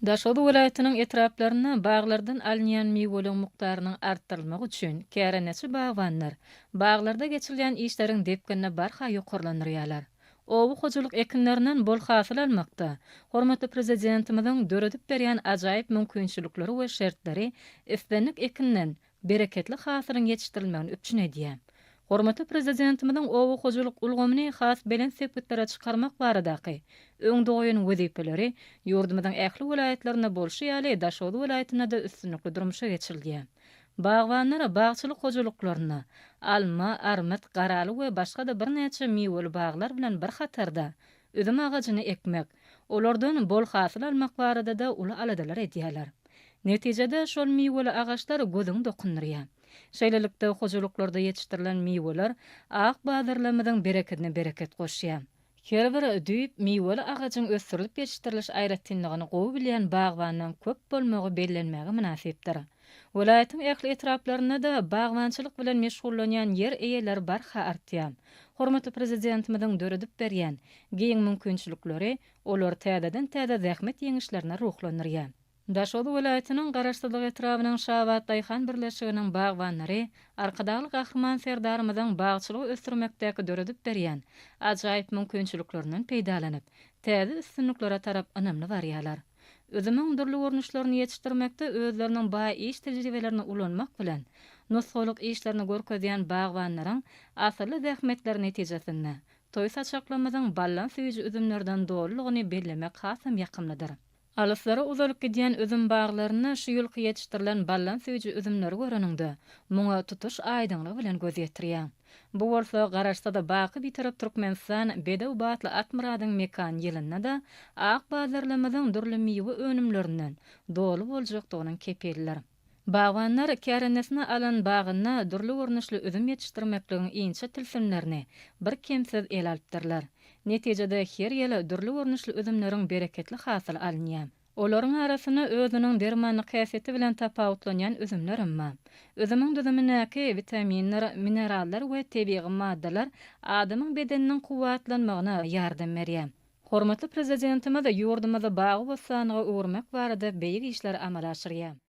Daşoguz welaýatynyň etraplarynda baglardan alynýan miweligiň mukdarynyň artdyrylmagy üçin kärendeçi bagbanlar baglarda geçirilýän işleriň depginini barha ýokarlandyrýarlar. Oba hojalyk ekinlerinden bol hasyl almakda hormatly Prezidentimiziň döredip berýän ajaýyp mümkinçilikleri we şertleri islendik ekinden bereketli hasylyň ýetişdirilmegini üpjün edýär. Hormatly Prezidentimiziň oba hojalyk ulgamyny has belent sepgitlere çykarmak baradaky öňde goýan wezipeleri ýurdumyzyň ähli welaýatlarynda bolşy ýaly, Daşoguz welaýatynda-da üstünlikli durmuşa geçirilýär. Bagbanlar bagçylyk hojalyklarynda alma, armyt, garaly we başga-da birnäçe miweli baglar bilen bir hatarda, Üzüm agajyny ekmek, olardan bol hasyl almak barada-da uly aladalar edýärler. Netijede, şol miweli agaçlar gözüňi dokundyrýar. Şeýlelikde, hojalyklarda ýetişdirilen miweler ak bazarlarymyzyň berekedine bereket goşýar. Her bir düýp miweli agajyň ösdürilip ýetişdiriliş aýratynlygyny gowy bilýän bagbandan köp bolmagy bellenmäge mynasypdyr. Welaýatyň ähli etraplarynda-da bagbançylyk bilen meşgullanýan ýer eýeleri barha artýar. Hormatly Prezidentimiziň döredip berýän giň mümkinçilikleri olary täzeden-täze zähmet ýeňişlerine ruhlandyrýar. Daşoguz welaýatynyň Garaşsyzlyk etrabynyň Şabat daýhan birleşiginiň bagbanlary Arkadagly Gahryman Serdarymyzyň bagçylygy ösdürmekdäki döredip berýän ajaýyp mümkinçiliklerinden peýdalanyp, täze üstünliklere tarap ynamly barýarlar. Üzümiň dürli görnüşlerini ýetişdirmekde özleriniň baý iş tejribelerini ulanmak bilen, nusgalyk işlerini görkezýän bagbanlaryň asylly zähmetleri netijesinde, toý saçaklarymyzyň ballan süýji üzümlerden dolulygyny bellemek hasam ýakymlydyr. Alyslara uzalyp gidýän üzüm baglarynda şu ýylky ýetişdirilen ballan süýji üzümleri göreniňde, muňa tutuş aýdyňlygy bilen göz ýetirýäň. Bu bolsa garaşsa-da baky Bitarap Türkmenistan bedew batly Akmyradyň mekan ýylynda-da ak bazarlarymyzyň dürli miwe önümlerinden doly boljakdygynyň kepilidir. Bagbanlar kärendesinä alan bagynda dürli görnüşli üzüm ýetişdirmekligiň inçe tilsimlerini birkemsiz ele alypdyrlar. Netijede her ýyl dürli görnüşli üzümleriň bereketli hasyly alynýar. Olaryň arasynda özüniň dermanlyk häsiýeti bilen tapawutlanýan üzümler hem bar. Üzümiň düzümindäki witaminler, minerallar we tebigy maddalar adamyň bedeniniň kuwwatlanmagyna ýardam berýär. Hormatly Prezidentimiz ýurdumyzy bagy-bossanlyga öwürmek barada beýik işleri amala aşyrýar.